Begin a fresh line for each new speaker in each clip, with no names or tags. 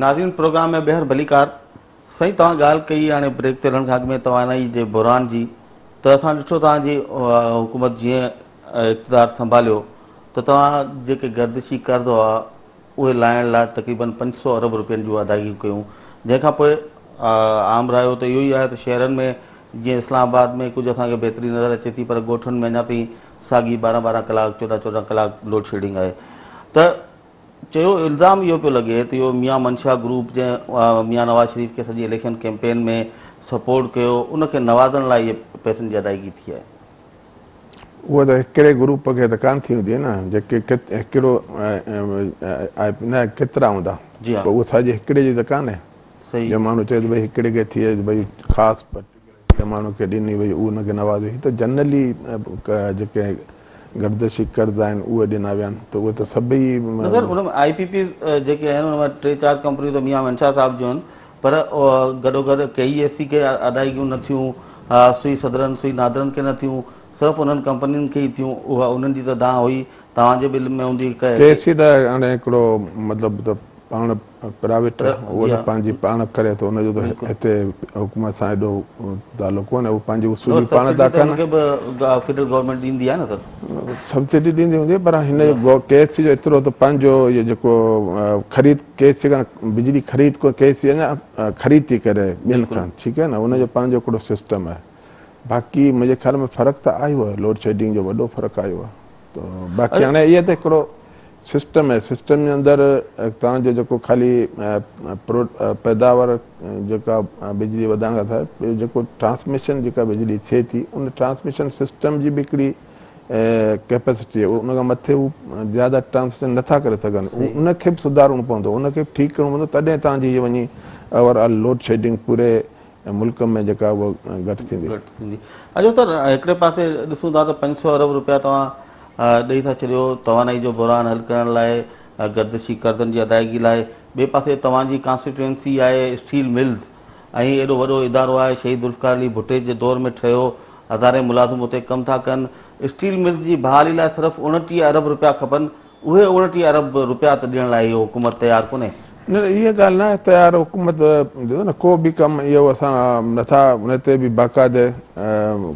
ناظرين پروگرام ۾ ٻيهر ڀليڪار سائين توهان ڳالهه ڪئي هاڻي بريڪ تي هلڻ کان اڳ ۾ توانائي جي بحران جي ته اسان ڏٺو توهان جي حڪومت جيئن اقتدار سنڀاليو ته توهان جيڪي گردشي قرض هئا اهي لاهڻ لاء تقريبن پنج سؤ ارب روپين جون ادائيگيون ڪيون جنهن کان پوء عام رايو ته اهو ئي آهي ته شهرن ۾ جيئن اسلام آباد ۾ ڪجهه اسان کي بهتري نظر اچي ٿي پر ڳوٺن ۾ اڃا تائين ساڳي ٻارهن ٻارهن ڪلاڪ چوڏهن چوڏهن ڪلاڪ لوڊشيڊنگ آهي ته چيو الزام اهو پيو لڳي ته اهو ميان منشا گروپ جنهن ميان نواز شريف کي سڄي اليڪشن ڪيمپين ۾ سپورٽ ڪيو ان کي نوازڻ لاء اهي پئسن جي ادائيگي ٿي آهي.
اهو ته هڪڙي گروپ کي ته ڪانه ٿي هوندي نه جيڪي هڪڙو نه ڪيترا هوندا پر اهو ساڄي هڪڙي جي ته ڪانه جو ماڻهو چوي ته ڀئي هڪڙي کي ٿئي ڀئي خاص پرٽيڪولر ماڻهو کي ڏني وئي اهو ان کي نوازيو هي ته جنرلي جيڪي گردشي ڪرد آهن اهي ڏنا ويا آهن ته اهي ته سڀئي نه سر ان ۾ آئي پي پيز
جيڪي آهن ان مان ٽي چار ڪمپنيون ته ميان منشا صاحب جون آهن پر گڏوگڏ ڪيئي ايس سي کي ادائيگيون نه ٿيون، سوئي صدرن، سوئي نادرن کي نه ٿيون، صرف انهن ڪمپنين کي ئي ٿيون، اها انهن جي ته دانهن هئي، توهان جي به علم ۾ هوندي هڪ. ڪيئي ايس سي ته هاڻي
هڪڙو مطلب ته پاڻ پرائيويٽ اهو ته پنهنجي پاڻ ڪري ٿو، ان جو ته هتي حڪومت سان ايڏو تعلق ڪونهي، اهو پنهنجي اصولي پاڻ ٿا ڪن. سبسڊي ته ان کي به فيڊرل
گورنمينٽ ڏيندي آهي نه سر. سبسڊي ڏيندي
هوندي، پر هن ڪيئي ايس سي جو ايترو ته پنهنجو اهو جيڪو خريد. ڪي سي کان بجلي خريد ڪو ڪي سي اڃا خريد ٿي ڪري ٻين کان ٺيڪ آهي نه ان جو پنهنجو هڪڙو سسٽم آهي باقي منهنجي خيال ۾ فرق ته آيو آهي لوڊ شيڊنگ جو وڏو فرق آيو آهي ته باقي هاڻي اهي ته هڪڙو سسٽم آهي سسٽم جي اندر تان جو جيڪو خالي پيداوار جيڪا بجلي وڌائڻ کان سواء جيڪو ٽرانسميشن جيڪا بجلي ٿئي ٿي ان ٽرانسميشن سسٽم جي به هڪڙي ڪيپيسٽي آهي ان کان مٿي هو زياده ٽرانزيڪشن نٿا ڪري سگهن ان کي به سڌارڻو پوندو ان کي به ٺيڪ ڪرڻو پوندو تڏهن توهان جي هي وڃي اوور آل لوڊ شيڊنگ پوري ملڪ ۾ جيڪا اها گهٽ ٿيندي. گهٽ ٿيندي اچو ته
هڪڙي پاسي ڏسون ٿا ته پنج سؤ ارب روپيا توهان ڏئي ٿا ڇڏيو توانائي جو بحران حل ڪرڻ لاء گردشي قرضن جي ادائيگي لاء ٻئي پاسي توهان جي ڪانسٽيٽوئنسي آهي اسٽيل ملز ۽ ايڏو وڏو ادارو آهي، شهيد ذوالفقار علي ڀٽي جي دور ۾ ٺهيو، هزارين ملازم اتي ڪم ٿا ڪن، اسٽيل ملز جي بحالي لاء صرف اوڻٽيهه ارب رپيا کپن، اهي اوڻٽيهه ارب رپيا ته ڏيڻ لاء اهو حڪومت تيار ڪونهي. نه نه اها ڳالهه
ناهي تيار حڪومت جو نه ڪو به ڪم اهو اسان نٿا ان تي به باقاعده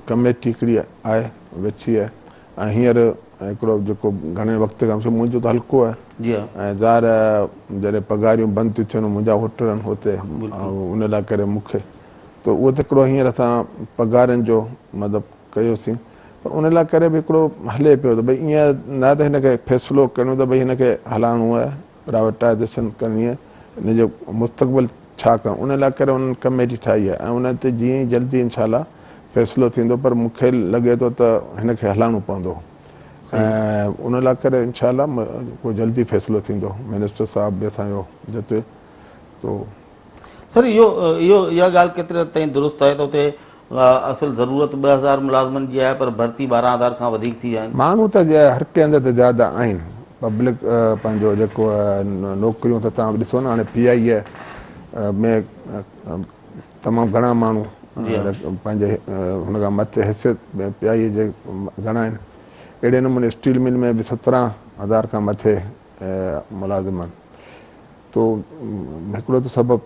ڪميٽي هڪڙي آهي ويٺي ۽ هينئر هڪڙو جيڪو گهڻي وقت کان سو منهنجو ته هلڪو آهي ۽ ظاهر آهي جڏهن پگهاريون بند ٿيون ٿين منهنجا هوٽل آهن هتي ان لاء ڪري مون کي ته اهو ته هڪڙو هينئر اسان پگهارين جو مطلب ڪيوسين پر ان لاء ڪري به هڪڙو هلي پيو ته ڀئي ايئن نه ته هن کي فيصلو ڪرڻو ته ڀئي هن کي هلائڻو آهي پرائيوٽائيزيشن ڪرڻي آهي ان جو مستقبل ڇا ڪرڻ ان لاء ڪري انهن ڪميٽي ٺاهي آهي ۽ ان تي جيئن ئي جلدي انشاء الله فيصلو ٿيندو پر مون کي لڳي ٿو ته هن کي هلائڻو پوندو ۽ ان لاء ڪري انشاء الله ڪو جلدي فيصلو ٿيندو منسٽر صاحب به اسان جو جتي تو سر
اهو اها ڳالهه ڪيتري حد تائين درست آهي ته اتي اها اصل ضرورت ٻه هزار ملازمن جي آهي پر ڀرتي ٻارهن هزار کان وڌيڪ ٿي ويا آهن. ماڻهو ته هر ڪنهن هنڌ
تي زياده آهن. پبلڪ پنهنجو جيڪو نوڪريون ته توهان ڏسو نه هاڻي پي آء اي ۾ تمام گهڻا ماڻهو پنهنجي هن کان مٿي حيثيت ۾ پي آء اي جي گهڻا آهن. اهڙي نموني اسٽيل مل ۾ به سترهن هزار کان مٿي ملازم آهن. تو هڪڙو ته سبب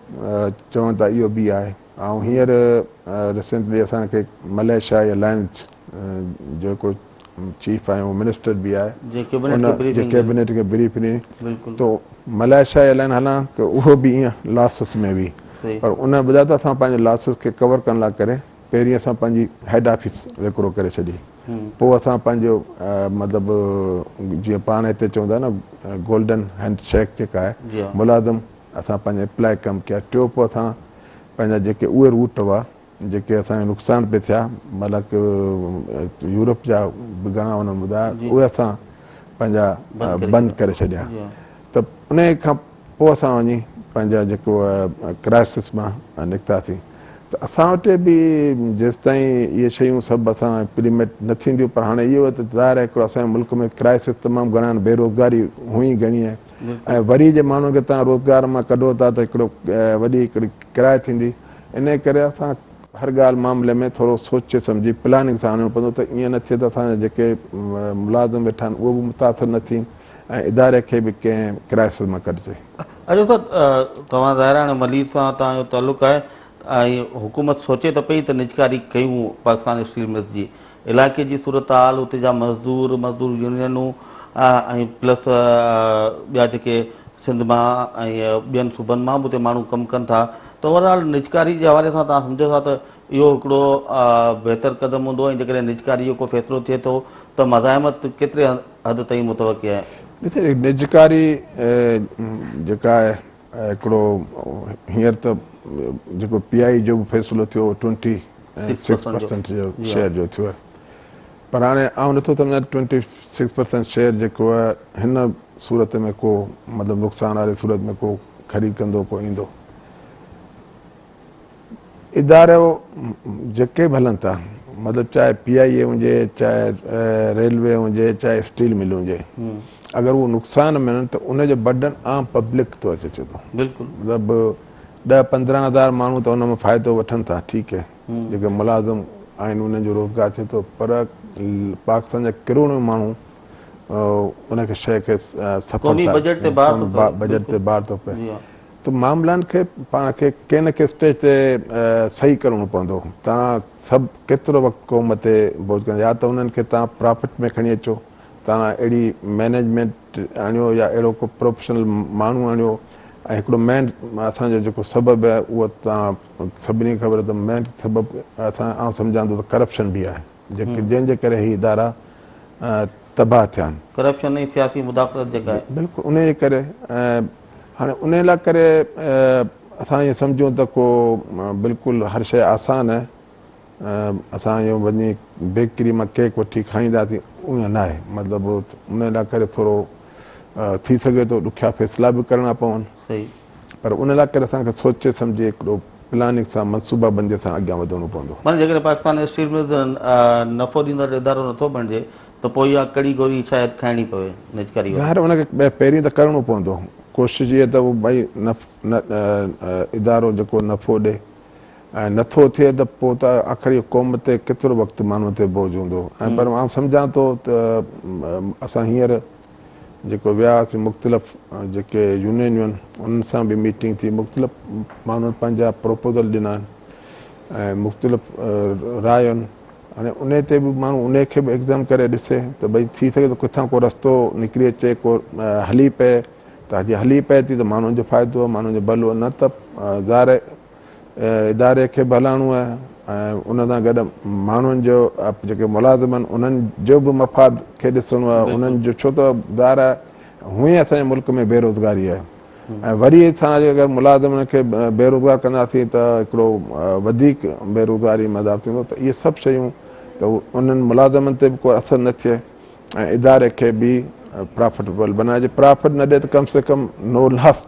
چون ٿا اهو به آهي. آئون هينئر ريسنٽلي اسان کي ملائيشيا جي الائنس جو هڪ چيف آهي اهو منسٽر به آهي جي ڪيبنيٽ کي بريف ڏني تو ملائيشيا جي الائنس هلان ته اهو به ايئن لاسز ۾ وئي پر ان بجاء ته اسان پنهنجي لاسز کي ڪور ڪرڻ لاء ڪري پهرين اسان پنهنجي هيڊ آفيس وڪرو ڪري ڇڏي پوء اسان پنهنجو مطلب جيئن پاڻ هتي چون ٿا نه گولڊن هينڊ شيڪ جيڪا آهي ملازم اسان پنهنجي اپلائي ڪم ڪيا ٽيو پوء اسان پنهنجا جيڪي اهي روٽ هئا جيڪي اسان کي نقصان پي ٿيا مطلب ڪي يورپ جا به گهڻا انهن ٻڌايا اهي اسان پنهنجا بند ڪري ڇڏيا ته ان کان پوء اسان وڃي پنهنجا جيڪو ڪرائسس مان نڪتاسين ته اسان وٽ به جيستائين اهي شيون سڀ اسان امپليمينٽ نه ٿينديون پر هاڻي اهو ته ظاهر آهي هڪڙو اسان ملڪ ۾ ڪرائسس تمام گهڻا بيروزگاري هئي گهڻي آهي ۽ وري جي ماڻهن کي تان روزگار مان ڪڍو ٿا ته هڪڙو وڏي هڪڙي ڪراء ٿيندي انهي ڪري اسان هر ڳالهه معاملي ۾ ٿورو سوچي سمجهي پلاننگ سان هلڻو پوندو ته ائين نه ٿئي ته اسان جا جيڪي ملازم ويٺا آهن اهي به متاثر نه ٿين ۽ اداري کي به ڪنهن ڪرائسز مان ڪڍجي. اچو
سر توهان ظاهر آهي هاڻي ملير سان توهان جو تعلق آهي ۽ حڪومت سوچي ته پئي ته نجڪاري ڪيون پاڪستان اسٽيل ملز جي علائقي جي صورتحال، اتي جا مزدور، مزدور يونينون ۽ پلس ٻيا جيڪي سنڌ مان ۽ ٻين صوبن مان به اتي ماڻهو ڪم ڪن ٿا ته اوور آل نجڪاري جي حوالي سان تهان سمجهو ٿا ته اهو هڪڙو بهتر قدم هوندو ۽ جيڪڏهن نجڪاري جو ڪو فيصلو ٿئي ٿو ته مزاحمت ڪيتري حد تائين متوقع آهي؟ ڏسو نجڪاري
جيڪا آهي هڪڙو هينئر ته جيڪو پي آء اي جو به فيصلو ٿيو اهو ٽوئنٽي سڪس پرسنٽ جو شيئر جو ٿيو آهي پر هاڻي آئون نٿو سمجهان ته ٽوئنٽي سڪس پرسنٽ شيئر جيڪو آهي هن صورت ۾ ڪو مطلب نقصان واري صورت ۾ ڪو خريد ڪندو ڪو ايندو. ادارو جيڪي به هلن ٿا مطلب چاهي پي آئي اي هجي چاهي ريلوي هجي چاهي اسٽيل ملون هجي اگر اهو نقصان ۾ آهن ته ان جو برڊن عام پبلڪ تي اچي ٿو بلڪل مطلب ڏهه پندرهن هزار ماڻهو ته ان مان فائدو وٺن ٿا ٺيڪ هي جيڪي ملازم آهن انهن جو روزگار ٿئي ٿو پر پاڪستان جا ڪروڙون ماڻهو ان کي شي کي سفر قومي بجيٽ تي بار ٿو پئي بجيٽ تي بار ٿو پئي ته معاملن کي پاڻ کي ڪنهن نه ڪنهن اسٽيج تي صحيح ڪرڻو پوندو. توهان سڀ ڪيترو وقت قوم تي بوجھ ڪندا يا ته انهن کي توهان پرافٽ ۾ کڻي اچو. توهان اهڙي مينيجمينٽ آڻيو يا اهڙو ڪو پروفيشنل ماڻهو آڻيو ۽ هڪڙو مين اسان جو جيڪو سبب اهو توهان سڀني کي خبر ته مين سبب اسان آئون سمجهان ٿو ته ڪرپشن به آهي. جنهن جي ڪري هي ادارا تباهه ٿيا آهن. ڪرپشن ۽ سياسي
مداخلت جيڪا آهي. بلڪل انهي جي ڪري
هاڻي انهي لا ڪري اسان ائين سمجهون ته ڪو بلڪل هر شيء آسان آهي اسان ائين وڃي بيڪري مان ڪيڪ وٺي کائينداسين ائين ناهي مطلب انهي لا ڪري ٿورو ٿي سگهي ٿو ڏکيا فيصلا به ڪرڻا پون. صحيح. پر
ان لاء ڪري
اسان کي سوچي سمجهي هڪڙو پلاننگ سان منصوبا بندي سان اڳيان وڌڻو پوندو. معني جيڪڏهن پاڪستان اسٽيل
ملز نفعو ڏيندڙ ادارو نٿو بڻجي ته پوء اها ڪڙي گوري شايد کائڻي پوي نجڪاري واري. ظاهر ان کي
پهرين ته ڪرڻو پوندو ڪوشش اها ته ڀئي ادارو جيڪو نفعو ڏي ۽ نٿو ٿئي ته پوء ته آخر اهو قوم تي ڪيترو وقت ماڻهن تي بوجهه هوندو ۽ پر آئون سمجهان ٿو ته اسان هينئر جيڪو ويا هئاسين مختلف جيڪي يونينيون انهن سان به ميٽنگ ٿي مختلف ماڻهن پنهنجا پروپوزل ڏنا آهن ۽ مختلف رايون هاڻي ان تي به ماڻهو ان کي به ايگزام ڪري ڏسي ته ڀئي ٿي سگهي ته ڪٿان ڪو رستو نڪري اچي ڪو هلي پئي ته جي هلي پئي ٿي ته ماڻهن جو فائدو ماڻهن جو ڀلو نه ته ظاهر اداري کي به هلائڻو آهي ۽ ان سان گڏ ماڻهن جو جيڪي ملازم آهن انهن جو به مفاد کي ڏسڻو آهي انهن جو ڇو ته ظاهر آهي هونئن اسان جي ملڪ ۾ بيروزگاري آهي ۽ وري اسان جي اگر ملازمن کي بيروزگار ڪنداسين ته هڪڙو وڌيڪ بيروزگاري ۾ اضافو ٿيندو ته اهي سڀ شيون ته انهن ملازمن تي به ڪو اثر نه ٿئي ۽ اداري کي به پرافٽبل بنائي جي پرافٽ نه ڏي ته ڪم سي ڪم نو لاس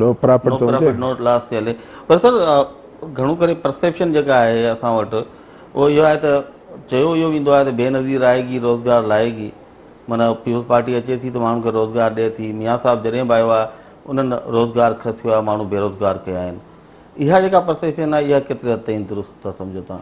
نو پرافٽ ته هجي نو لاس تي هلي
پر سر گهڻو ڪري پرسيپشن جيڪا آهي اسان وٽ اهو اهو آهي ته چيو اهو ويندو آهي ته بي نظير آئي گي روزگار لائي گي معنيٰ پيپلز پارٽي اچي ٿي ته ماڻهن کي روزگار ڏي ٿي ميان صاحب جڏهن به آيو آهي انهن روزگار کسيو آهي ماڻهو بيروزگار ڪيا آهن اها جيڪا پرسيپشن آهي اها ڪيتري حد تائين درست ٿا سمجهو تان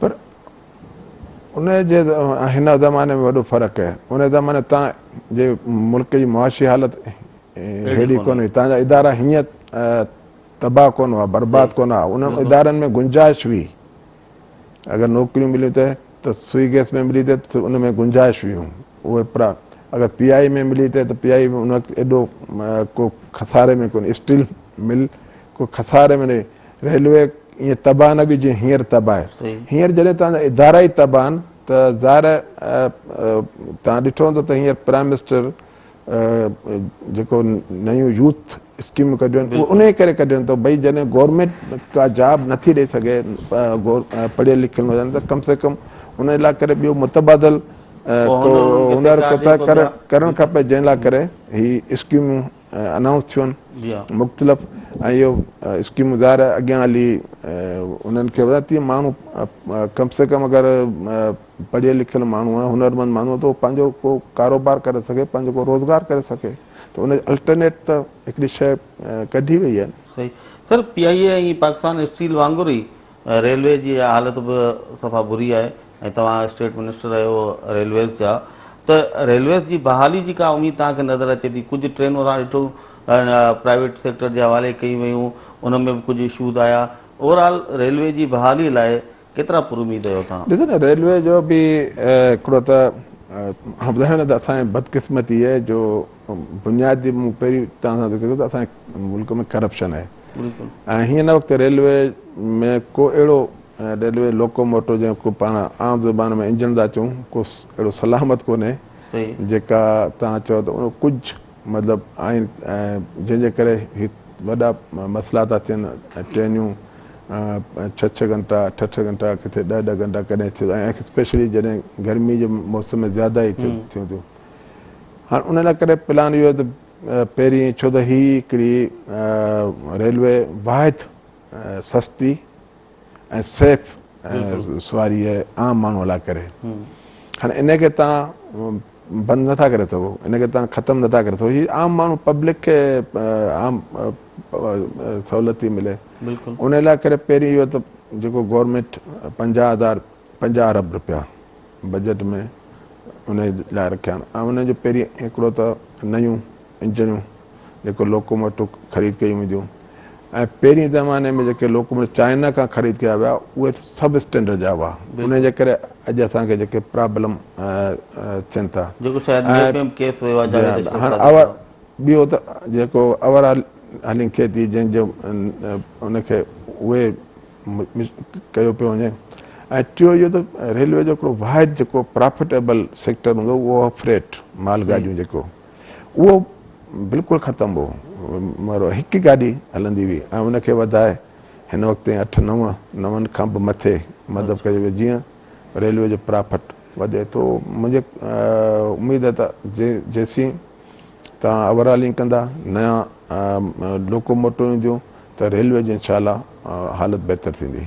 پر ان جي هن زماني ۾ وڏو فرق آهي ان زماني تان جي ملڪ جي معاشي حالت هيڙي ڪونه هئي تان جا ادارا هيئن تباهه ڪونه هئا برباد ڪونه هئا انهن ادارن ۾ گنجائش هئي اگر نوڪريون مليون ته ته سوئي گيس ۾ ملي ته ان ۾ گنجائش هيون اهي پرا اگر پي آئي ۾ ملي ته ته پي آئي ان وقت ايڏو ڪو خساري ۾ ڪونه اسٽيل مل ڪو خساري ۾ نه ريلوي ايئن تباهه نه به جيئن هينئر تباهه آهي. هينئر جڏهن توهان جا ادارا ئي تباهه آهن ته ظاهر آهي توهان ڏٺو هوندو ته هينئر پرائيم منسٽر جيڪو نيون يوٿ اسڪيمون ڪڍيون آهن اهي انهيء ڪري ڪڍين ٿو ڀئي جڏهن گورنمينٽ ڪا جاب نٿي ڏئي سگهي پڙهيل لکيل نوجوانن ته ڪم سي ڪم ان لاء ڪري ٻيو متبادل ڪو هنر ڪرڻ کپي جنهن لاء ڪري هي اسڪيمون انائونس ٿيون مختلف
۽ اهو
اسڪيمون ظاهر اڳيان هلي انهن کي وڌائي تيئن ماڻهو ڪم سي ڪم اگر پڙهيل لکيل ماڻهو آهي هنرمند ماڻهو آهي ته پنهنجو ڪو ڪاروبار ڪري سگهي پنهنجو ڪو روزگار ڪري سگهي ته ان الٽرنيٽ ته هڪڙي شيء ڪڍي وئي آهي. صحيح sir P
I A ۽ Pakistan steel وانگر ئي ريلوي جي اها حالت به صفا بري آهي ۽ توهان اسٽيٽ منسٽر رهيو ريلويز جا ته ريلويز جي بحالي جي ڪا اميد توهان کي نظر اچي ٿي ڪجهه ٽرينون اسان ڏٺيون پرائيويٽ سيڪٽر جي حوالي ڪيون ويون ان ۾ به ڪجهه اشوز آيا اوور آل ريلوي جي بحالي لاء ڪيترا پر اميد آهيو توهان؟ ڏسو نه ريلوي جو به
هڪڙو ته هاڻ ٻڌايو نه ته اسان جي بدقسمتي اها آهي جو بنيادي مون پهرين توهان سان ذڪر ڪيو ته اسان جي ملڪ ۾ ڪرپشن آهي هن
وقت
ريلوي ۾ ڪو اهڙو ريلوي لوڪوموٽو جنهن کي پاڻ عام زبان ۾ انجڻ ٿا چئون ڪو اهڙو سلامت ڪونهي جيڪا
توهان
چئو ته ان ڪجهه مطلب آهن جنهن جي ڪري هي وڏا مسئلا ٿا ٿين ٽرينيون ڇهه ڇهه گهنٽا اٺ اٺ گهنٽا ڪٿي ڏهه ڏهه گهنٽا ڪڏهن ٿيو ۽ اسپيشلي جڏهن گرمي جي موسم ۾ زياده ئي ٿيون ٿيون هاڻ ان لاء ڪري پلان اهو ته پهرين ڇو ته هي هڪڙي ريلوي واحد سستي ۽ سيف سواري عام ماڻهو لاء ڪري هاڻي ان کي تان بند نٿا ڪري سگهو ان کي تان ختم نٿا ڪري سگهو هي عام ماڻهو پبلڪ کي عام سهولت ٿي ملي ان لاء ڪري
پهرين
اهو ته جيڪو گورنمينٽ پنجاهه هزار پنجاهه ارب روپيا بجيٽ ۾ انهي لاء رکيا آهن ۽ انهن جو پهرين هڪڙو ته نيون انجڻيون جيڪو لوڪوموٽو خريد ڪيون وينديون ۽ پهرين زماني ۾ جيڪي لوڪوموٽو چائنا کان خريد ڪيا ويا اهي سب اسٽينڊرڊ جا هئا انهي جي ڪري اڄ اسان کي جيڪي پرابلم ٿين ٿا جيڪو شايد نيپيم
ڪيس ويو آهي جاويد اشرف قاضي سان
ٻيو ته جيڪو اوور هالنگ ٿئي ٿي جنهن جو ان کي اهي ڪيو پيو وڃي ۽ ٽيو اهو ته ريلوي جو هڪڙو واحد جيڪو پرافٽيبل سيڪٽر هوندو هو اهو فريٽ مال گاڏيون جيڪو اهو بلڪل ختم هو مگر هڪ گاڏي هلندي هئي ۽ ان کي وڌائي هن وقت تائين اٺ نو نون کان به مٿي مطلب ڪيو ويو جيئن ريلوي جو پرافٽ وڌي ٿو منهنجي اميد ته جيسين تان اوور هالنگ ڪندا، نيان لوڪوموٽو اينديون ته ريلوي جي انشاء الله حالت بهتر ٿيندي.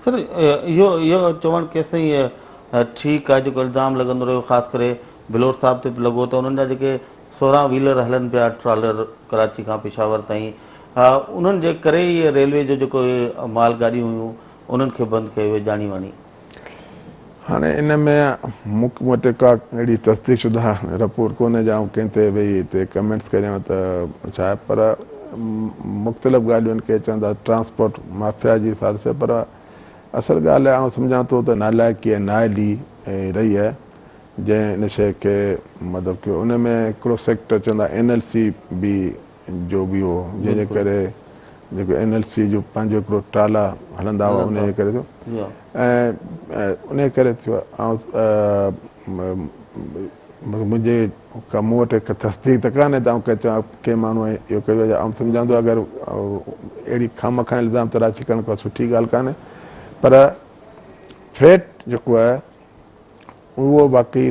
سر اهو
اهو چوڻ ڪيستائين ٺيڪ آهي جيڪو الزام لڳندو رهيو خاص ڪري بلوچ صاحب تي به لڳو ته انهن جا جيڪي سورهن ويلر هلن پيا ٽرالر ڪراچي کان پشاور تائين انهن جي ڪري ئي ريلوي جو جيڪو اهي مال گاڏيون هيون انهن کي بند ڪيو ويو جاني واني.
هاڻي ان ۾ مون وٽ ڪا اهڙي تصديق شده رپورٽ ڪونهي جا آئون ڪنهن تي ويهي هتي ڪمينٽس ڪريان ته ڇا آهي پر مختلف ڳالهيون ڪي چوندا ٽرانسپورٽ مافيا جي سازش آهي پر اصل ڳالهه آئون سمجهان ٿو ته نالائقي ۽ نااهلي رهي آهي جنهن ان شيء کي مطلب ڪيو ان ۾ هڪڙو سيڪٽر چوندا اين ايل سي به جو به هو جنهن جي ڪري جيڪو اين ايل سي جو پنهنجو هڪڙو ٽالا هلندا هئا انهي جي ڪري ٿيو ۽ انهي ڪري ٿيو منهنجي مون وٽ هڪ تصديق ته ڪانهي ته آئون چوان ڪنهن ماڻهو ائين اهو ڪيو آهي آئون سمجهان ٿو اگر اهڙي خامخواه الزام تراشي ڪرڻ ڪا سٺي ڳالهه ڪانهي پر ٿريٽ جيڪو آهي اهو باقي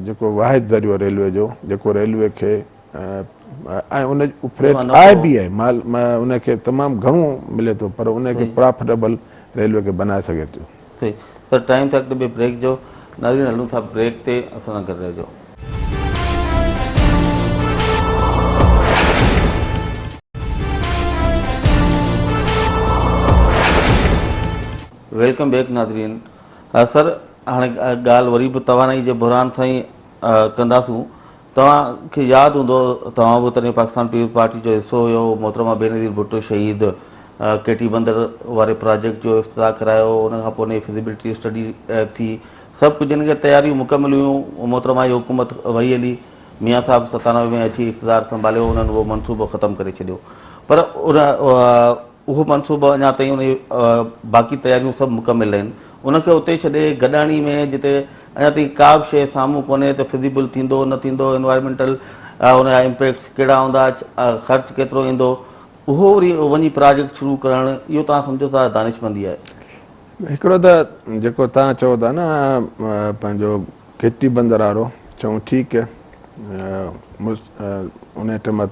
جيڪو واحد ذريعو ريلوي جو جيڪو ريلوي کي ۽ ان جو فريٽ آهي به آهي مال ان کي تمام گهڻو ملي ٿو پر ان کي پرافٽيبل ريلوي کي بنائي سگهي ٿيو. صحيح سر ٽائيم
ٿيو اڳتي ٻئي بريڪ جو ناظرين هلون ٿا بريڪ تي اسان سان گڏ رهجو. ويلڪم بيڪ ناظرين سر هاڻي ڳالهه وري به توانائي جي بحران سان ئي ڪنداسون. توهان کي ياد هوندو توهان به تڏهن پاڪستان پيپلز پارٽي جو حصو هيو، محترمه بينظير ڀٽو شهيد ڪي ٽي بندر واري پراجيڪٽ جو افتتاح ڪرايو، ان کان پوء ان جي فزيبلٽي اسٽڊي ٿي، سڀ ڪجهه ان جي تياريون مڪمل هيون، محترمه جي حڪومت وهي هلي، ميان صاحب ستانوي ۾ اچي اقتدار سنڀاليو، انهن اهو منصوبو ختم ڪري ڇڏيو پر ان اهو منصوبو اڃا تائين ان جي باقي تياريون سڀ مڪمل آهن. ان کي اتي ڇڏي گڏاڻي ۾ جتي اڃا تائين ڪا به شيء سامهون ڪونهي ته فزيبل ٿيندو نه ٿيندو، انوائرمينٽل ان جا امپيڪٽس ڪهڙا هوندا، خرچ ڪيترو ايندو، اهو وري وڃي پراجيڪٽ شروع ڪرڻ اهو توهان سمجهو ٿا دانشمندي آهي. هڪڙو ته
جيڪو توهان چئو ٿا نه پنهنجو گهٽي بندر وارو چئون ٺيڪ ان ٽيمت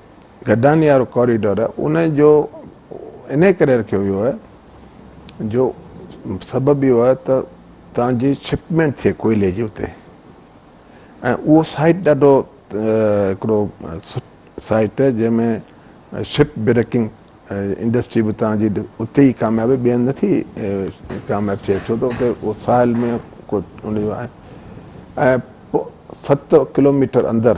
گڊاني وارو ڪوريڊور ان جو انهي ڪري رکيو ويو آهي جو سبب اهو آهي ته تان جي شپمينٽ ٿئي ڪوئلي جي اتي ۽ اهو سائيٽ ڏاڍو هڪڙو سائيٽ آهي جنهن ۾ شپ بريڪنگ انڊسٽري به تان جي اتي ئي ڪامياب آهي ٻين نٿي ڪامياب ٿئي ڇو ته اتي اهو ساحل ۾ ڪو ان جو آهي ۽ ست ڪلوميٽر اندر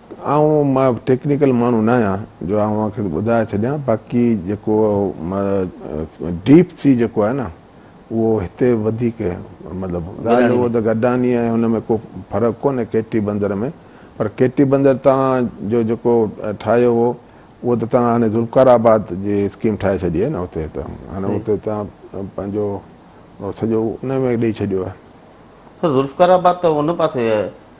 آئون مان
ٽيڪنيڪل ماڻهو نه آهيان جو آئون اوهان کي ٻڌائي ڇڏيان باقي جيڪو ڊيپ سي جيڪو آهي نه اهو هتي وڌيڪ مطلب ڳالهه هو ته گڊاني ۽ هن ۾ ڪو فرق ڪونهي ڪيٽي بندر ۾ پر ڪيٽي بندر توهان جو جيڪو ٺاهيو هو اهو ته توهان هاڻي ذوالفقار آباد جي اسڪيم ٺاهي ڇڏي آهي نه اتي ته هاڻي اتي توهان پنهنجو سڄو ان ۾ ڏئي ڇڏيو آهي. سر ذوالفقار
آباد ته ان پاسي آهي.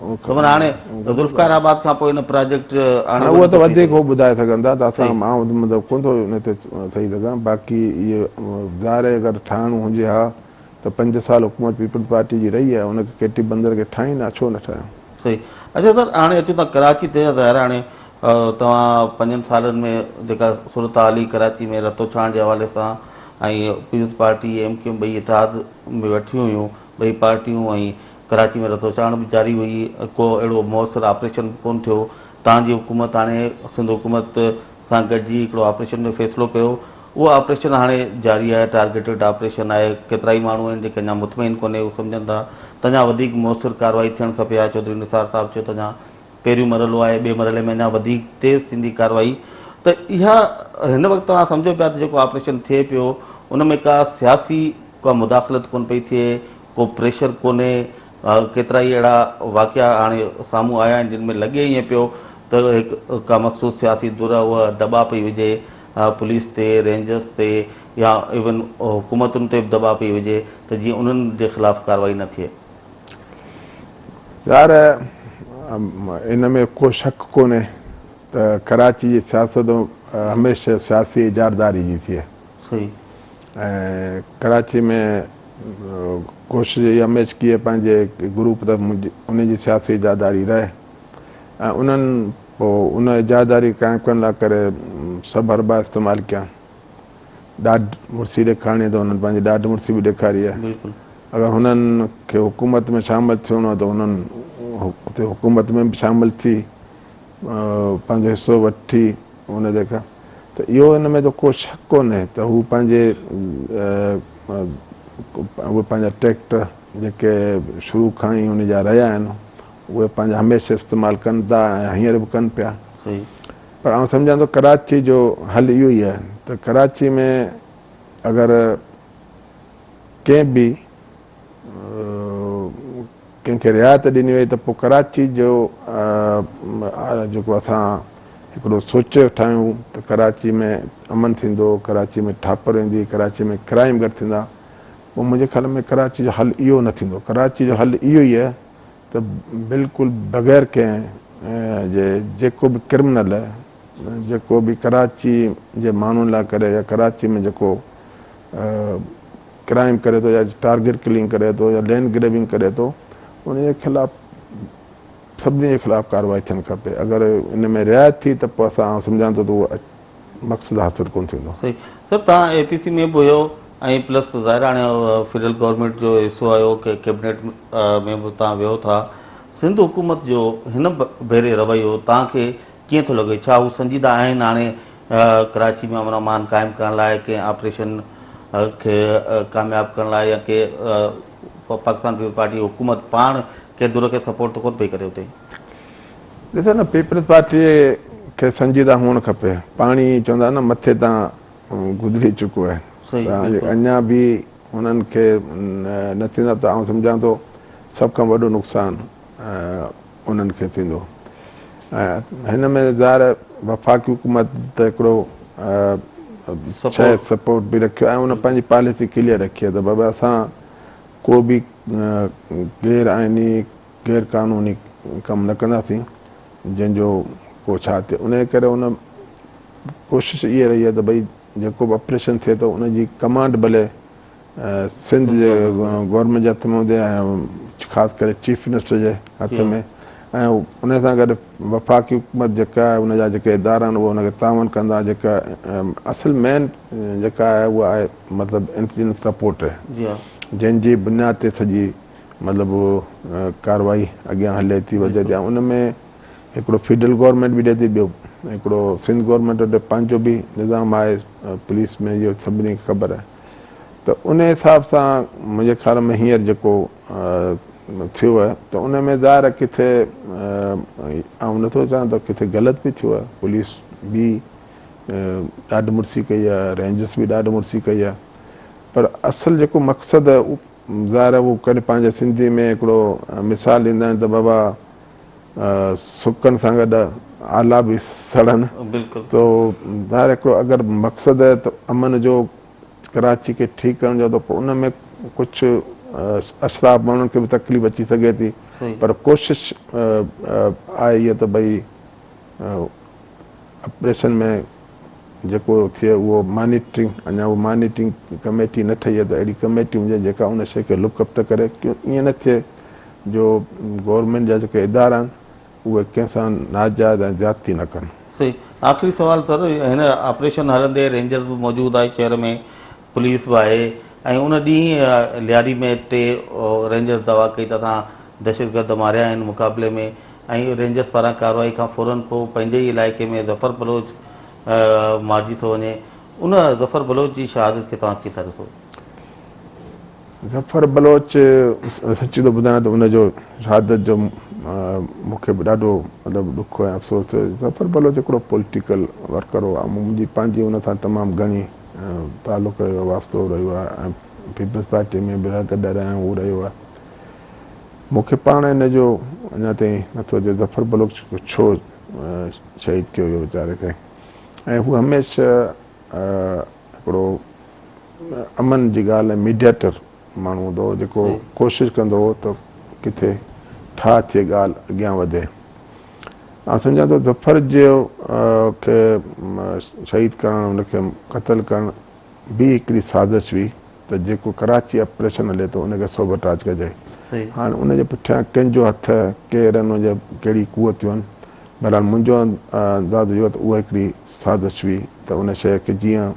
خبر هاڻي
ذوالفقار آباد کان پوء ان پراجيڪٽ آڻي هاڻي اهو ته وڌيڪ
هو ٻڌائي سگهندا ته اسان مان مطلب ڪونه ٿو ان تي چئي سگهان باقي اهي ظاهر آهي اگر ٺاهڻو هجي ها ته پنج سال حڪومت پيپلز پارٽي جي رهي آهي ان کي ڪي ٽي بندر کي ٺاهين ها ڇو نه ٺاهيو. صحيح اچو
سر هاڻي اچون ٿا ڪراچي تي ظاهر هاڻي توهان پنجن سالن ۾ جيڪا صورتحال هئي ڪراچي ۾ رتو ڇاڻ جي حوالي سان ۽ پيپلز پارٽي ايم ڪيو ٻئي اتحاد ۾ ويٺيون هيون ٻئي پارٽيون ۽ ڪراچي ۾ رتوڇاڻ به جاري هئي ۽ ڪو اهڙو موثر آپريشن به ڪونه ٿيو. تان جي حڪومت هاڻي سنڌ حڪومت سان گڏجي هڪڙو آپريشن جو فيصلو ڪيو. اهو آپريشن هاڻي جاري آهي، ٽارگيٽيڊ آپريشن آهي. ڪيترائي ماڻهو آهن جيڪي اڃا مطمئن ڪونهي، هو سمجهن ٿا ته اڃا وڌيڪ موثر ڪارروائي ٿيڻ کپي ها. چوڌري نثار صاحب چيو ته اڃا پهريون مرحلو آهي، ٻئي مرحلي ۾ اڃا وڌيڪ تيز ٿيندي ڪارروائي ته اها هن وقت توهان سمجهو پيا ته جيڪو آپريشن ٿئي پيو ان ۾ ڪا سياسي ڪا مداخلت ڪونه پئي ٿئي، ڪو پريشر ڪونهي، ڪيترائي اهڙا واقعا هاڻي سامهون آيا آهن جن ۾ لڳي ائين پيو ته هڪ ڪا مخصوص سياسي ڌر اهو دٻاء پئي وجهي پوليس تي، رينجرز تي يا ايون حڪومتن تي به دٻاء پئي وجهي ته جيئن انهن جي خلاف ڪارروائي نه ٿئي. يار
ان ۾ ڪو شڪ ڪونهي ته ڪراچي جي سياست هميشه سياسي اجاراداري جي ٿئي ۽ ڪراچي ۾ ڪوشش اها هميشه ڪيئي پنهنجي گروپ ته انهن جي سياسي اجاداري رهي ۽ انهن پو ان اجاداري قائم ڪرڻ لاء ڪري سڀ حربا استعمال ڪيا ڏاڍ مڙسي ڏيکارڻي ته انهن پنهنجي ڏاڍ مڙسي به ڏيکاري آهي بلڪل اگر هنن کي حڪومت ۾ شامل ٿيڻو ته انهن اتي حڪومت ۾ به شامل ٿي پنهنجو حصو وٺي ان جي ڪا ته اهو ان ۾ ته ڪو شڪ ڪونهي ته هو پنهنجي اهي پنهنجا ٽريڪٽر جيڪي شروع کان ئي ان جا رهيا آهن اهي پنهنجا هميشه استعمال ڪن ٿا ۽ هينئر به ڪن پيا پر آئون سمجهان ٿو ڪراچي جو حل اهو ئي آهي ته ڪراچي ۾ اگر ڪنهن به ڪنهن کي رعايت ڏني وئي ته پوء ڪراچي جو جيڪو اسان هڪڙو سوچ ٺاهيون ته ڪراچي ۾ امن ٿيندو، ڪراچي ۾ ٺاپر ويندي، ڪراچي ۾ ڪرائيم گهٽ ٿيندا، پوء منهنجي خيال ۾ ڪراچي جو حل اهو نه ٿيندو، ڪراچي جو حل اهو ئي ته بلڪل بغير ڪنهن جي جيڪو به ڪرمنل جيڪو به ڪراچي جي ماڻهن لاء ڪري يا ڪراچي ۾ جيڪو ڪرائيم ڪري ٿو يا ٽارگيٽ ڪلنگ ڪري ٿو يا لينڊ گريبنگ ڪري ٿو انهي جي خلاف سڀني جي خلاف ڪارروائي ٿيڻ کپي اگر ان ۾ رعايت ٿي ته پوء اسان آئون سمجهان ٿو ته اهو مقصد حاصل ڪونه ٿيندو. صحيح صاحب توهان اي
پي سي ۾ به هيو ۽ پلس ظاهر آهي هاڻي فيڊرل گورنمينٽ جو حصو آهيو ڪي ڪيبنيٽ ۾ به توهان ويهو ٿا سنڌ حڪومت جو هن ڀيري رويو توهان کي ڪيئن ٿو لڳي ڇا هو سنجيده آهن هاڻي ڪراچي ۾ امن امان قائم ڪرڻ لاء ڪنهن آپريشن کي ڪامياب ڪرڻ لاء يا ڪي پاڪستان پيپلز پارٽي حڪومت پاڻ ڪنهن ڌر کي سپورٽ ته ڪونه پئي ڪري اتي. ڏسو
نه پيپلز پارٽيء کي سنجيده هئڻ کپي. پاڻ ئي چوندا آهن نه مٿي تان گذري چڪو آهي ته اڃا به انهن کي نه ٿيندا ته آئون سمجهان ٿو سڀ کان وڏو نقصان انهن کي ٿيندو ۽ هن ۾ ظاهر وفاقي حڪومت ته هڪڙو شايد سپورٽ به رکيو آهي ان پنهنجي پاليسي ڪليئر رکي آهي ته بابا اسان ڪو به غير آئيني غير قانوني ڪم نه ڪنداسين جنهن جو ڪو ڇا ٿئي انهي ڪري ان ڪوشش اهي رهي آهي ته ڀئي جيڪو به اپريشن ٿئي ٿو ان جي ڪمانڊ ڀلي سنڌ جي گورنمينٽ جي هٿ ۾ هجي ۽ خاص ڪري چيف منسٽر جي هٿ ۾ ۽ ان سان گڏ وفاقي حڪومت جيڪا آهي ان جا جيڪي ادارا آهن اهي ان کي تعاون ڪندا جيڪا اصل مين جيڪا آهي اها آهي مطلب انٽيليجنس رپورٽ جنهن جي بنياد تي سڄي مطلب ڪارروائي اڳيان هلي ٿي وڌي ٿي ان ۾ هڪڙو فيڊرل گورنمينٽ به رهي ٿي ٻيو هڪڙو سنڌ گورنمينٽ وٽ پنهنجو به نظام آهي پوليس ۾ اهو سڀني کي خبر آهي ته ان حساب سان منهنجي خيال ۾ هينئر جيڪو ٿيو آهي ته ان ۾ ظاهر آهي ڪٿي آئون نٿو چاهيان ته ڪٿي غلط به ٿيو آهي پوليس به ڏاڍ مڙسي ڪئي آهي رينجرس به ڏاڍ مڙسي ڪئي آهي پر اصل جيڪو مقصد آهي ظاهر آهي هو ڪڏهن پنهنجي سنڌي ۾ هڪڙو مثال ڏيندا آهن ته بابا سڪن سان گڏ آلا به سڙن تو ظاهر هڪڙو اگر مقصد آهي ته امن جو ڪراچي کي ٺيڪ ڪرڻ جو ته پوء ان ۾ ڪجهه اشراف ماڻهن کي به تڪليف اچي سگهي ٿي پر ڪوشش آهي اها ته ڀئي آپريشن ۾ جيڪو ٿئي اهو مانيٽرنگ اڃا اهو مانيٽرنگ ڪميٽي نه ٺهي ته اهڙي ڪميٽي هجي جيڪا ان شيء کي لڪ اپ ته ڪري ڪيون ائين نه ٿئي جو گورنمينٽ جا جيڪي ادارا آهن اهي ڪنهن سان ناجائز ۽ زيادتي نه ڪن. صحيح آخري
سوال سر هن آپريشن هلندي رينجرز به موجود آهي شهر ۾ پوليس به آهي ۽ ان ڏينهن لياري ۾ ٽي رينجرز دعويٰ ڪئي ته اسان دهشتگرد ماريا آهن مقابلي ۾ ۽ رينجرز پاران ڪارروائي کان فورن پوء پنهنجي ئي علائقي ۾ ظفر بلوچ مارجي ٿو وڃي ان ظفر بلوچ جي شهادت کي توهان ڪيئن ٿا ڏسو؟ ظفر
بلوچ سچي ٿو ٻڌايان ته ان جو شهادت جو مون کي به ڏاڍو مطلب ڏک ۽ افسوس ٿيو ظفر بلوچ هڪڙو پوليٽيڪل ورڪر هو منهنجي پنهنجي ان سان تمام گهڻي تعلق رهيو آهي، واسطو رهيو آهي ۽ پيپلز پارٽي ۾ به رهندڙ ڏر ۽ هو رهيو آهي. مون کي پاڻ ان جو اڃا تائين نٿو اچي ظفر بلوچ کي ڇو شهيد ڪيو ويو ويچاري کي ۽ هو هميشه هڪڙو امن جي ڳالهه ۽ ميڊيئيٽر ماڻهو هوندو هو جيڪو ڪوشش ڪندو هو ته ڪٿي ٺاهه ٿئي ڳالهه اڳيان وڌي. آئون سمجهان ٿو ظفر جي کي شهيد ڪرڻ ان کي قتل ڪرڻ به هڪڙي سازش هئي ته جيڪو ڪراچي آپريشن هلي ٿو ان کي سوبوٽاج ڪجي هاڻ ان جي پٺيان ڪن جو هٿ ڪير آهن ان جي ڪهڙي قوتيون آهن بهرحال منهنجو انداز اهو ته اها هڪڙي سازش هئي ته ان شيء کي جيئن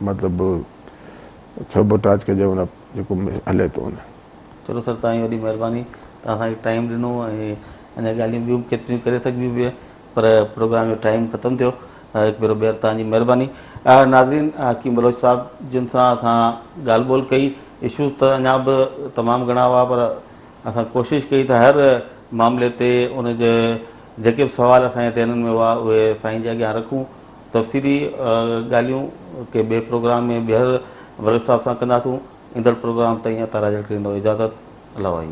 مطلب سوبوٽاج ڪجي ان جيڪو مون هلي ٿو ان. چلو سر توهان جي
وڏي مهرباني توهان اسان کي ٽائيم ڏنو ۽ اڃا ڳالهيون ٻيون به ڪيتريون ڪري سگهبيون به پر پروگرام جو ٽائيم ختم ٿيو هڪ ڀيرو ٻيهر توهان جي مهرباني ناظرين حڪيم بلوچ صاحب جن سان اسان ڳالهه ٻولهه ڪئي اشوز ته اڃا به تمام گهڻا هئا پر اسان ڪوشش ڪئي ته هر معاملي تي ان جي جيڪي به سوال اسان جي ذهنن ۾ هئا اهي سائين جي اڳيان رکون تفصيلي ڳالهيون ڪنهن ٻئي پروگرام ۾ ٻيهر ورلڊ صاحب سان ڪنداسون. ايندڙ پروگرام تائين عطا راڄڙ کي ڏيندو اجازت. الله واحي.